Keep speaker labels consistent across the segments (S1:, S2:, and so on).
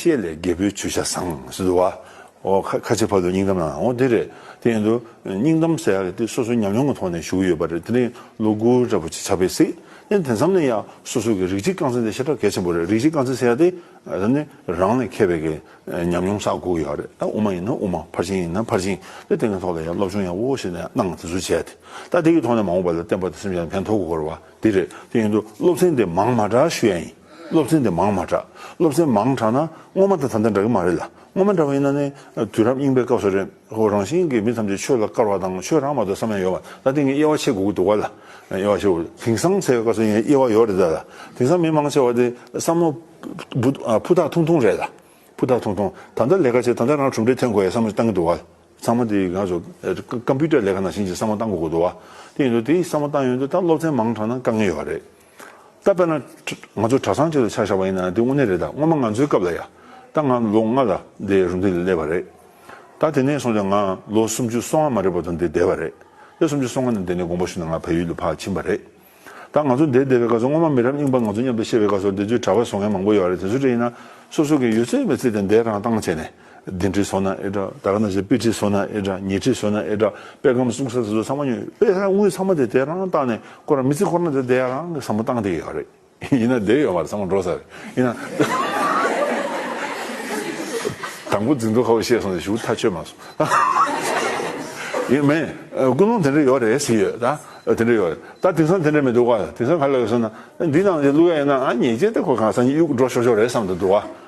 S1: ཤེས་ལས་རྒྱལ་པོའི་མཆོད་ཆ་བཟང། ཟེར་དུ་བ། ཁ་ཁ་ཕྱེ་བར་དུ་སྙིང་གཏམ་ནང་ཨོ་དེ་རེད། དེ་ཡིན་དུ། སྙིང་གཏམ་ཟེར་ཡག་དེ་སོ་སོའི་ཉམས་མྱོང་གི་ཐོག་ནས་ཞུ་གི་ཡོད་པ་རེད་དེ་རིང་ལོ་དགུ་རེ་བོ་ཆེ་ཆགས་པས་སྲིད། དེ་དེ་མཚམས་ནས་ཡང་སོ་སོ་གི་རིག་གཅིག་རྐང་འཛིན་དེ་ཤ་ཁྲག་གལ་ཆེན་པོ་རེད་རིག་གཅིག་རྐང་འཛིན་ཟེར་ཡག་དེ། དེ་ནི་རང་ལས་མཁས་པའི་གི་ཉམས་མྱོང་བསགས་དགོས་ཡག་རེད་ད་དབུ་མ་ཡིན་ན་དབུ་མ་ཕར་ཕྱིན་ཡིན་ན་ཕར་ཕྱིན་དེ་དེ་གི་ཐོག་ལ་ཡང་སློབ་སྦྱོང་ཡག་པོ་ཞིག་ནས་གནང་དེ་ཚུལ་བྱས་དེ་ད་དེ་གི་ཐོག་ནས་མང་བོ་བ་ལ་བསྟན་པ་དེ་སེམས་ཅན་ལ་ཕན་ཐོག་གོ་དགོས་པ་དེ་རེད་དེ་ཡིན་དུ་སློབ་ཚན་དེ་མང་མ་གྲགས་ཞུ་ཡག་ཡིན། སློབ་ཚན་དེ་མང་མ་དྲགས། སློབ་ཚན་མང་དྲགས་ན་སྔོན་མ་དང་ད་ལྟ་འདྲ་གི་མ་རེད་ལ། སྔོན་མ་འདྲ་བ་ཡིན་ན་ནི་དུས་རབས་རྙིང་པའི་སྐབས་སུ་རེད། ཧོ་རང་བཞིན་གྱི་མི་ཐམས་ཅད་ཆོས་ལ་དཀར་བ་དང་ཆོས་རང་མ་གཏོགས་བསམ་ཡས་ཡོད་པ་ད་ཐེངས་ཀྱི་དབྱེ་བ་ཕྱེ་དགོས་ཀྱི་འདུག་བ་ལ། དབྱེ་བ་ཕྱེ་དགོས་ཀྱི་དེང་སང་ཚེ་དཀར་སོ་ཡན་དབྱེ་བ་ཡོད་རེད་ད་ལ། དེང་སང་མི་མང་ཆེ་བ་དེ་བསམ་བློ་ཕུ་ཐག་ཐུང་ཐུང་རེད་ལ། ཕུ་ཐག་ཐུང་ཐུང་ད་ལྟ་ལས་ཀ་བྱས་ད་ལྟ་རང་གྲུབ་འབྲས་ཐོན་དགོས་ཡའི་བསམ་བློ་གཏང་གི་འདུག་བ་ལ། ཚང་མ་དེ་ག་ཚོད་ཀམ་པུའུ་ཏར་ལས་ཀ་ནང་བཞིན་གྱི་བསམ་བློ་གཏང་དགོས་ཀྱི་འདུག་བ་དེ་ཡིན་དུ་དེ་བསམ་བློ་གཏང་ཡོང་དུ་ད་སློབ་ཚན་མང་དྲགས་ན་དཀའ་ངལ་ཡོད་པ་རེད། ད་དཔེར་ན། ང་ཚོ་གྲྭ་ཚང་གཅིག་ལ་ཆ་བཞག་པ་ཡིན་ན་དེ་དངོས་གནས་རེད་ད་སྔོན་མ་ང་ཚོའི་སྐབས་ལ་ཡ་ད་ང་ལོ་ལྔ་ལ་འདས་རུ་འདི་ལས་བ་རེད། ད་དེ་ནས་སོང་ལ་ང་ལོ་སུམ་ཅུ་སོ་ལྔ་མ་རེད་བ་དང་འདས་འདས་བ་རེད། ལོ་སུམ་ཅུ་སོ་ལྔ་ནས་འདས་ནས་དགོངས་པ་ཞུ་ན་ང་བལ་ཡུལ་ལ་ཕར་ཕྱིན་པ་རེད། ད་ང་ཚོ་འདས་འདས་བའི་སྐབས་སུ་སྔོན་མ་མི་རབས་རྙིང་པ་ང་ཚོ་མཉམ་དུ་བཤད་པའི་སྐབས་སུ་འདས་ཚོའི་གྲྭ་བ་བཟོ་མཁན་མང་པོ་ཡོད་བ་རེད་དེ་ཚོ་བྲིས་ན་སོ་སོ་གིས་ཡོད་ཚད་མི་བརྩིས་ཏེ་འདས་རང་བཏང་བྱས་ནས་བདུན་ཁྲི་སོ་ན་ཨེ་གྲགས་ད་ག་ན་བྱས་དཔེ་ཁྲི་སོ་ན་ཨེ་གྲགས་ཉེར་ཁྲི་སོ་ན་ཨེ་གྲགས་དཔེ་སྒམ་བསྲུང་ས་དེ་ཚོ་ཚང་མ་ཉོས་དཔེ་ཧེ་རག་དངུལ་ཚང་མ་དེ་དེ་རང་བཏང་ནས་བསྐོར་ར་མི་ཚེ་འཁོར་ན་དེ་དེ་རང་གིས་བསམ་བློ་བཏང་དེ་ཡོད་རེད་ཡིན་ན་དེ་ཡོད་མ་རེད་ཚང་མ་འགྲོ་ས་རེད་ཡིན་ན། དང་པོ་འཛིན་དོ་ཁ་བོ་ཤེས་སོང་ཟེར་ཞུ་ཐག་ཆོད་མ་སོང། ཡིན་མིན་ཀུན་སློང་དེ་འདྲ་ཡོད་རེད་ཟེར་ཡོད་ད་དེ་འདྲ་ཡོད་རེད་ད་དེང་སང་དེ་འདྲ་མི་འདུག་ག་དེང་སང་ག་ལ་ཡོད་ཟེར་ན་འདི་ནང་བཞིན་བླུག་ཡ་ཡིན་ན་ང་ཉེས་ཅན་དེ་ཁོ་གང་ས་གཉིས་གཡུག་འགྲོ་ཤོར་ཤོར་རེད་བསམ་དུ་འདུག་ག།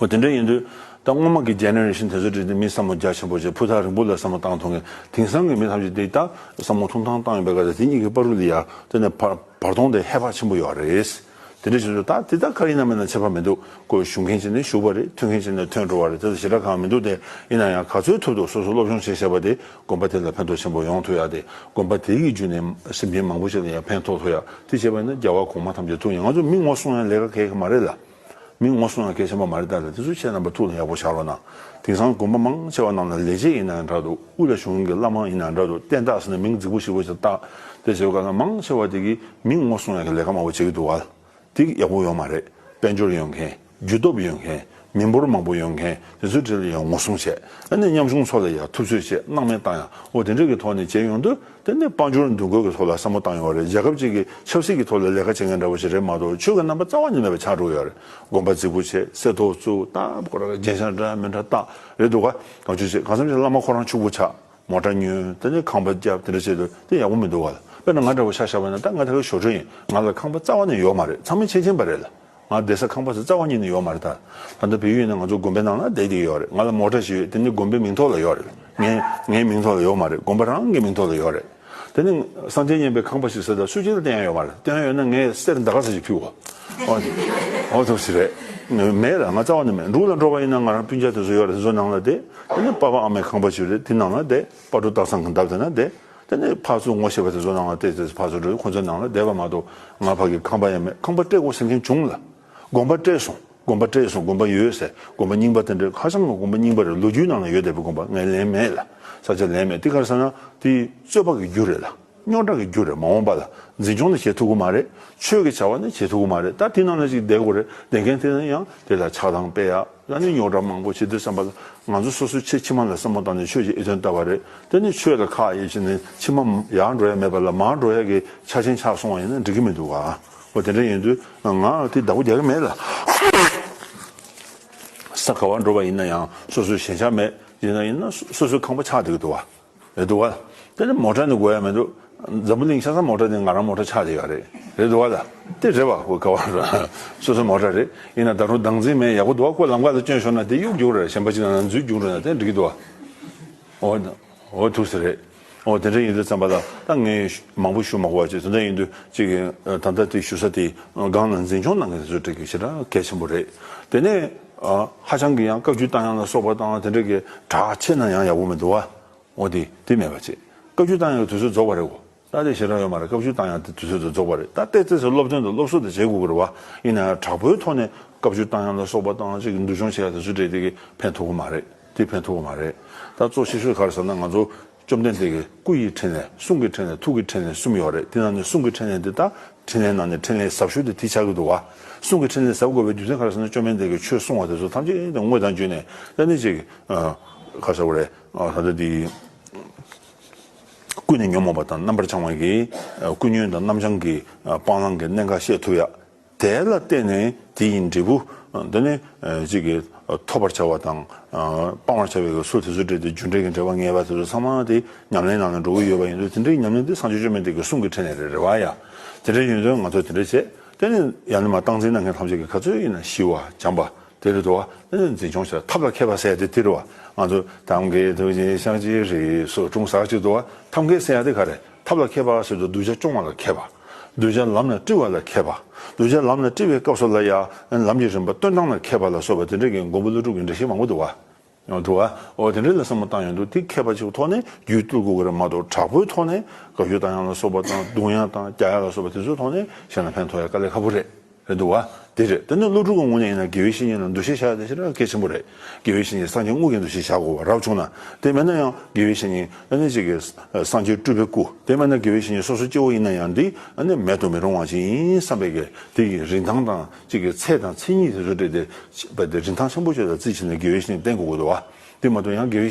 S1: ཨོ་དེ་འདྲ་ཡིན་དུས་ད་སྔོན་མ་གི Generation དེ་ཚོ་བྲིས་ཏེ་མི་བསམ་བློ་རྒྱ་ཆེན་པོ་བྱས་ཕུ་ཐག་རིང་པོ་ལ་བསམ་བློ་བཏང་ཐུང་གིས་དེང་སང་གི་མི་ཐམས་ཅད་འདི་ལྟ་བསམ་བློ་ཐུང་ཐང་བཏང་ཡོད་པའི་སྐབས་དེ་དེ་གཉིས་ཀྱི་པར་རུ་ལི་ཡར་བཏོན་ནས་བར་སྟོང་དེ་ཧེ་བག་ཆེན་པོ་ཡོད་རེད། དེ་འདྲ་བྱས་ཚུལ་ད་དེ་ལྟར་ཁ་ཡིན་ན་མིན་ན་ཆད་པ་མི་འདུག་དགོས་ཞུ་མཁན་གཅིག་ནས་ཞུ་བ་རེད་ཐོན་མཁན་གཅིག་ནས་ཐོན་འགྲོ་བ་རེད་དེ་ལ་ཞེ་དྲག་གང་མི་འདུག་སྟེ་ཡིན་ན་ཡང་ག་ཚོད་ཐུབ་ཐུབ་སོ་སོ་སློབ་སྦྱོང་བྱེད་ཤེས་པ་དེ་དགོན་པ་དེ་ལ་ཕན་ཐོག་ཆེན་པོ་ཡོང་ཐུབ་ཡག་སྟེ་དགོན་པ་དེ་གི་བརྒྱུད་ནས་སེམས་ཅན་མང་པོ་ཞིག་ལ་ཡང་ཕན་ཐོག་ཐུབ་ཡག་དེ་བྱས་པ་ཡིན་ན་རྒྱལ་བ་གོང་མ་ཐམས་ཅད་ཐུགས་ཡངས་ང་ཚོ་མི་ངོ་སོང་ཡང་ལས་ཀ་གལ་གི་མ་རེད་ལ། མི་ངོ་སོང་ན་གལ་ཆེན་པོ་མ་རེད་ད་ལྟ་དེ་ཚོ་བྱས་ན་པ་ཐུགས་ལ་ཡག་པོ་བཞག་རོགས་གནང། དེང་སང་དགོན་པ་མང་ཆེ་བ་རྣམས་ལ་ལས་བྱེད་ཡིན་ནའང་འདྲ་འདུག་དབུས་ལ་བྱུང་མཁན་གྱི་བླ་མང་ཡིན་ནའང་འདྲ་འདུག་བསྟན་བདག་ཟེར་ནས་མིང་རྫིག་པོ་ཞིག་པོ་ཞིག་བཏགས་ཏེ་བྱེད་པ་ཁག་ན་མང་ཆེ་བ་དེ་གིས་མི་ངོ་སོང་ཡག་གི་ལས་ཀ་མང་པོ་བྱེད་ཀྱི་འདུག་ཨལ་ཏེ་ཡག་པོ་ཡོད་མ་རེད་དཔལ་འབྱོར་ཡོད་མཁན་རྒྱུ་སྟོབས་ཡོད་མཁན་མི་འབོར་མང་པོ་ཡོད་མཁན་དེ་ཚོའི་གྲས་ལ་ཡང་ངོ་སོང་བྱས་ནས་མཉམ་ཆུང་ཚོ་ལ་ཡག་ཐུབ་ཚོད་བྱས་གནང་མེད་བཏང་ཡང་འོ་དེ་འདྲས་ཀྱི་ཐོག་ནས་བྱས་ཡོང་དུས། དེ་ནི་དཔལ་འབྱོར་འདུ་འགོད་ཀྱི་ཐོག་ལ་བསམ་བློ་བཏང་ཡོང་བ་རེད་རྒྱལ་ཁབ་ཅིག་གིས་ཆབ་སྲིད་ཀྱི་ཐོག་ལ་ལས་ཀ་བྱེད་མཁན་འདྲ་བོ་ཞིག་རེད་མ་གཏོགས་ཆོས་ཀྱི་རྣམ་པ་རྩ་བ་ཉིད་མེད་པའི་ཆགས་འགྲོ་ཡོད་རེད་དགོན་པ་རྫིག་པོ་ཆེ་སེ་ཐོག་བཙུག་སྟངས་སྐོར་ལ་རྒྱན་ཤང་འདྲ་མི་འདྲ་བཏགས་རེད་འདུག་ག་གང་བྱུང་བྱས་གང་བསམ་བྱས་བླ་མ་ཁོ་རང་ཕྱུག་པོ་ཆགས་མོ་འདྲ་ཉོན་དེ་ནས་ཁང་པ་བརྒྱབ་དེ་འདྲ་བྱས་དུས་དེ་ཡག་པོ་མི་འདུག་ག་ལ་དཔེར་ན་ང་འདྲ་བོ་ཤ་ཤ་བ་ན་ད་ང་ད་གའི་ཞོར་ཕྲུག་ཡིན་ང་ལ་ཁང་པ་རྩ་བ་ནས་ཡོག་མ་རེད་ཚང་མས་ཆེ་ཆེན་པ་རེད་ལ། ང་བསྡད་ས་ཁང་པ་ཚོ་རྩ་བ་ཉིད་ནས་ཡོག་མ་རེད་ད། ད་ལྟ་བོད་ཡུལ་ནས་ང་ཚོ་དགོན་པའི་ནང་ལ་བསྡད་ཀྱི་ཡོག་རེད་ང་ལ་མོག་ཁྲ་ཞིག་ཡོད་དེ་ནི་དགོན་པའི་མིང་ཐོག་ལ་ཡོག་རེད། ངའི་ངའི་མིང་ཐོག་ལ་ཡོག་མ་རེད་དགོན་པ་རང་གི་མིང་ཐོག་ལ་ཡོག་རེད། དེ་ནི་གསང་ཆེན་སྙན་པའི་ཁང་པ་ཞིག་ཟེར་ད་སུས་ཅི་ལ་བསྟན་ཡང་ཡོག་མ་རེད་བསྟན་ཡོད་ན་ངའི་གསེར་འདའ་ཁ་ས་ཞིག་ཕུལ་བ་འོ་ཐུབ་ཞིག་རེད། མེད་ར་ང་རྩ་བ་ནས་མེད་འབྲུག་ལ་འགྲོ་བ་ཡིན་ན་ང་རང་སྤུན་ཆེད་དེ་ཚོ་ཡོག་རེད་དེ་ཚོ་ནང་ལ་བསྡད་དེ་ནི་དཔའ་བ་ཨ་མའི་ཁང་པ་ཞིག་རེད་དེ་ནང་ལ་བསྡད་དཔའ་གྲུ་སྟག་ཚང་གི་འདབས་དེ་ན་བསྡད། དེ་ནས་ཕར་ཚུར་ངོ་ཤེས་པ་དེ་ཚོ་ནང་ལ་བལྟས་ཚེ་ཕར་ཚུར་འགྲོ་དུས་ཁོ་ཚོའི་ནང་ལ་བསྡད་པ་མ་གཏོགས་ང་ཕ་གིས་ཁང་པ་ཡང་མེད་ཁང་པ་སྤྲད་དགོས་ཟེར་མཁན་བྱུང་ལ། དགོན་པ་སྤྲད་སོང་དགོན་པ་སྤྲད་སོང་དགོན་པ་ཡོད་ཟེར་དགོན་པ་རྙིང་པ་དེ་འདྲའི་ཁ་བྱང་གི་དགོན་པ་རྙིང་པ་རེད་ལོ་རྒྱུས་ནང་ལ་ཡོད་བསྡད་པའི་དགོན་པ་ངས་ལེན་མེད་ལ་ས་ཆ་ལེན་མེད་འདི་གར་ས་ན་དེ་རྩོད་པ་གི་རྒྱུ་རེད་ལ་རྙོག་དྲ་གི་རྒྱུ་རེད་མ་འོངས་པ་ལ་འཛིན་སྐྱོང་ནི་བྱེད་ཐུབ་གི་མ་རེད་ཆོས་ཀྱི་བྱ་བ་ནི་བྱེད་ཐུབ་གི་མ་རེད་ད་དེ་ནང་ལ་ཅིག་བསྡད་དགོས་རེད་བསྡད་མཁན་དེ་ཡང་དེ་ལ་ཆགས་སྡང་སྤེལ་ཡག། ལ་ནི་རྙོག་དྲ་མང་པོ་བྱེད་དུས་བསམ་པ། ང་ཚོ་སོ་སོའི་ཆེད་ཕྱི་མ་ལ་བསམ་བློ་བཏང་ནས་ཆོས་ཀྱི་ཨེ་དོན་བལྟ་བ་རེད། དེ་ནི་ཆོས་ལ་ཁག་དབྱེ་བྱས་ནས་ཕྱི་མ་ཡར་འགྲོ་ཡག་མེད་པ་ལ་མར་འགྲོ་ཡག་གི་ཆ་ཆེན་ཆགས་སོང་བ་ཡིན་ན་འགྲིག་གི་མི་འདུག་གོ། དེ་འདྲ་ཡིན་དུས་ང་དེའི་བདག་པོ་རྒྱག་གི་མེད་ལ། ས་ག་བར་འགྲོ་བ་ཡིན་ན་ཡང་སོ་སོའི་ཞེན་ཆགས་མེད་ཡིན་ན་ཡིན་ན་སོ་སོའི་ཁང་པ་ཆགས་བསྡད་ཀྱི་འདུག་ག། རེད་འདུག་ག། དེ་ལ་མོ་ཏྲ་ནི་གོ་ཡ་མི་འདུག། འཛམ་བུ་གླིང་ཤ་ཚ་མོ་ཏྲ་ནི་ང་རང་མོ་ཏྲ་ཆགས་ཀྱི་ཡོད་རེད། རེད་འདུག་ག་ལ། དེ་རེད་བ་ཁོ་ག་བ་རེད། སོ་སོ་མོ་ཏྲ་རེད། ཡིན་ན་ད་རུང་སྡང་འཛིན་མེད་ཡག་པོ་འདུག་ག་ཁོ་ལམ་ཁ་ལ་བསྐྱོན་ཤོར་ན་དེ་གཡུག་རྒྱུག་རེད་གཞན་པ་ཅིག་ལ་ན་འཛུལ་རྒྱུག་འགྲོ་ན་དེ་འགྲིག་གི་འདུག་ག། འོ། འོ་ཐུགས་སུ་རེད། འོ་དེ་འདྲ་ཡིན་དུས་བརྩམས་པ་ལ་ད་ངས་མང་པོ་ཞུ་མ་གོ་བ་ཅིག་དེ་འདྲ་ཡིན་དུས་ཅིག་ད་ལྟ་དེ་ཞུ་ས་དེ་སྒང་ན་འཛིན་སྐྱོང་གནང་མཁན་དེ་ཚོས་འགྲིག་གི་ཞེ་དྲག་གལ་ཆེན་པོ་རེད། དེ་ནས། ཧ་ཅང་གི་ཡང་བཀའ་བརྒྱུད་བཏང་ཡང་ལ་སོགས་པ་བཏང་དེ་འདྲ་གི་གྲགས་ཆེ་ན་ཡང་ཡག་པོ་མི་འདུག་ཨ། འོ་དེ་དེ་མེད་པ་ཅིག་བཀའ་བརྒྱུད་བཏང་ཡང་གི་དུས་ཚོད་རྫོགས་པ་རེད་གོ། ད་དེ་ཞེ་དྲག་ཡོད་མ་རེད་བཀའ་བརྒྱུད་བཏང་ཡང་དེ་དུས་ཚོད་དེ་རྫོགས་པ་རེད་ད་ལྟའི་ཚེ་སོ་སློབ་སྟོན་དང་སློབ་གསོ་དེ་བྱེད་དགོས་གི་རེད་བ། ཡིན་ན་ཡང་དྲག་པོའི་ཐོག་ནས་བཀའ་བརྒྱུད་བཏང་ཡང་ལ་སོགས་པ་བཏང་ཅིག་འདུལ་སྦྱོང་བྱེད་ཡ་དེ་ཚོད་དྲེད་དེ་གི་ཕན་ཐོག་གི་མ་རེད་དེ་ཕན་ཐོག་གི་མ་རེད། ད་གཙོ་ཆེ་ཤོས་ག་རེ་ཟེར་ན་ང་ཚོ་བཅོམ་ལྡན་འདས་ཀྱི་སྐུ་ཡི་འཕྲིན་ལས་གསུང་གི་འཕྲིན་ལས་ཐུགས་ཀྱི་འཕྲིན་ལས་གསུམ་ཡོད་རེད་དེ་ནང་ནས་གསུང་གི་འཕྲིན་ལས་འདི་དག་འཕྲིན་ལས་ནང་ནས་འཕྲིན་ལས་ཟབ་ཤོས་དེ་དེ་ཆགས་ཀྱི་འདུག་གསུང་གི་འཕྲིན་ལས་ཟབ་དགོས་པའི་རྒྱུ་མཚན་ག་རེ་ཟེར་ན་བཅོམ་ལྡན་འདས་ཀྱིས་ཆོས་གསུང་བ་དེ་ཚོ་ཐམས་ཅད་དངོས་དང་བརྒྱུད་ནས་གཏན་ནས་ཅིག་ག་ཟེར་བ་རེད་ད་ལྟ་འདི་ཀུན་ནས་ཉོན་མོངས་པ་དང་རྣམ་པར་བྱང་བ་གིས་ཀུན་ཉོན་དང་རྣམ་བྱང་གི་སྤང་བླང་གི་གནད་འགའ་ཤས་ཐུབ་ཡག་དེ་ལ་བརྟེན་ནས་དེ་ཡི་འབྲས་བུ། འདི་ནི། གཅིག་གིས། ཐོབ་པར་བྱ་བ་དང། སྤང་བར་བྱ་བའི་གེགས་སོགས་དེ་ཚོ་འབྲེལ་ཏེ་རྒྱུ་འབྲས་ཀྱི་འབྲེལ་བ་ངེས་པ་དེ་ཚོ་ཚང་མ་དེ་ཉམས་ལེན་ནང་ནས་འགྲོ་གི་ཡོད་པ་ཡིན་དུས་དེ་འདྲའི་ཉམས་ལེན་དེ་སངས་རྒྱས་བཅོས་མིན་ཏེ་གེགས་གསུམ་གྱི་ཁྲིད་ནས་རེད་རེད་བ་ཡ། དེ་འདྲའི་ཡོན་ཏན་ང་ཚོས་དེ་འདྲ་བྱེད། དེ་ནི། ཡང་ནི་མ་བཏང་འཛིན་གནང་མཁན་ཐམས་ཅད་ཀྱི་ག་ཚོད་ཡིན་ན་ཞི་བ་སྦྱངས་པ། དེ་རེད་དོ། དེ་ནི་འཛིན་སྐྱོང་བྱེད་ཐབས་ལ་མཁས་པ་ཟེར་ཡ་དེ་དེ་རེད་བ། ང་ཚོས་ཐབས་མཁས་ཐུགས་རྗེ་ཕྱག་བྱེད་རེད་སོགས་སྤྲུངས་ཟག་ཅིག་ཏུ་བ་ཐབས་མཁས་ཟེར་ཡ་དེ་ག་རེད། ཐབས་ལ་མཁས་པ་ཞེས་སོགས་གདུལ་བྱ་སྐྱོང་བ་ལ་མཁས་པ། གདུལ་བྱ་ལམ་ལ་བཀྲི་བ་ལ་མཁས་པ། གདུལ་བྱ་ལམ་ལ་བཀྲི་བའི་སྐབས་སོགས་ལ་ཡང་ལམ་གྱི་རིམ་པ་སྟོན་སྟངས་ལ་མཁས་པ་ལ་སོགས་པ་དེ་འདྲ་གི་མགོན་པོ་ཀླུ་སྒྲུབ་ཀྱི་འདྲ་ཞིག་མང་པོ་འདུག་བ། འདུག་བ། འོ་དེ་འདྲ་ལ་བསམ་བློ་བཏང་ཡོང་དུས་དེ་མཁས་པ་གཅིག་གི་ཐོག་ནས་རྒྱུད་བསྟོད་གུ་གུ་ར་མ་གཏོགས་དྲག་པོའི་ཐོག་ནས་དགའ་སྐྱོ་བལྟ་ཡང་ལ་སོགས་པ་དང་གདུང་ཡང་དང་རྒྱ་ཡང་ལ་སོགས་པ་དེ་ཚོའི་ཐོག་ནས་གཞན་ལ་ཕན་ཐོགས་ཡ་དཀའ་ལས་ཁ་པོ་རེད། རེད་འདུག་བ། དེ་རེད་དེ་ནི་སློབ་ཕྲུག་གི་ངོས་ནས་ཡིན་ན་དགེ་བའི་བཤེས་གཉེན་ལ་འདུ་ཤེས་བཞག་ཡོད་ད་ཕྱིར་གལ་ཆེན་པོ་རེད། དགེ་བའི་བཤེས་གཉེན་སངས་རྒྱས་དངོས་ཀྱི་འདུ་ཤེས་བཞག་དགོས་པ་རབ་བྱུང་ན། དེ་མེད་ན་ཡང་དགེ་བའི་བཤེས་གཉེན་ཨ་ནི་གཅིག་གི་སངས་རྒྱས་སྤྲུལ་པའི་སྐུ་དེ་མེད་ན་དགེ་བའི་བཤེས་གཉེན་སོ་སོ་སྐྱེ་བོ་ཡིན་ན་ཡང་དེ་ཨ་ནི་མེད་དུ་མི་རུང་བ་ཞིག་ཡིན་བསམ་པའི་གལ་ཏེ་ཡིན་རིན་ཐང་དང་གཅིག་གི་ཚད་དང་མཚན་ཉིད་དེ་ཚོ་སྤྲད་དེ། རིན་ཐང་ཆེན་པོ་བཅོས་དང་རྩིས་བྱས་ནས་དགེ་བའི་བཤེས་གཉེན་བསྟེན་དགོས་དགོས་འདུག་བ། དེ་མ་ཐུབ་ཡང་དགེ་བའི།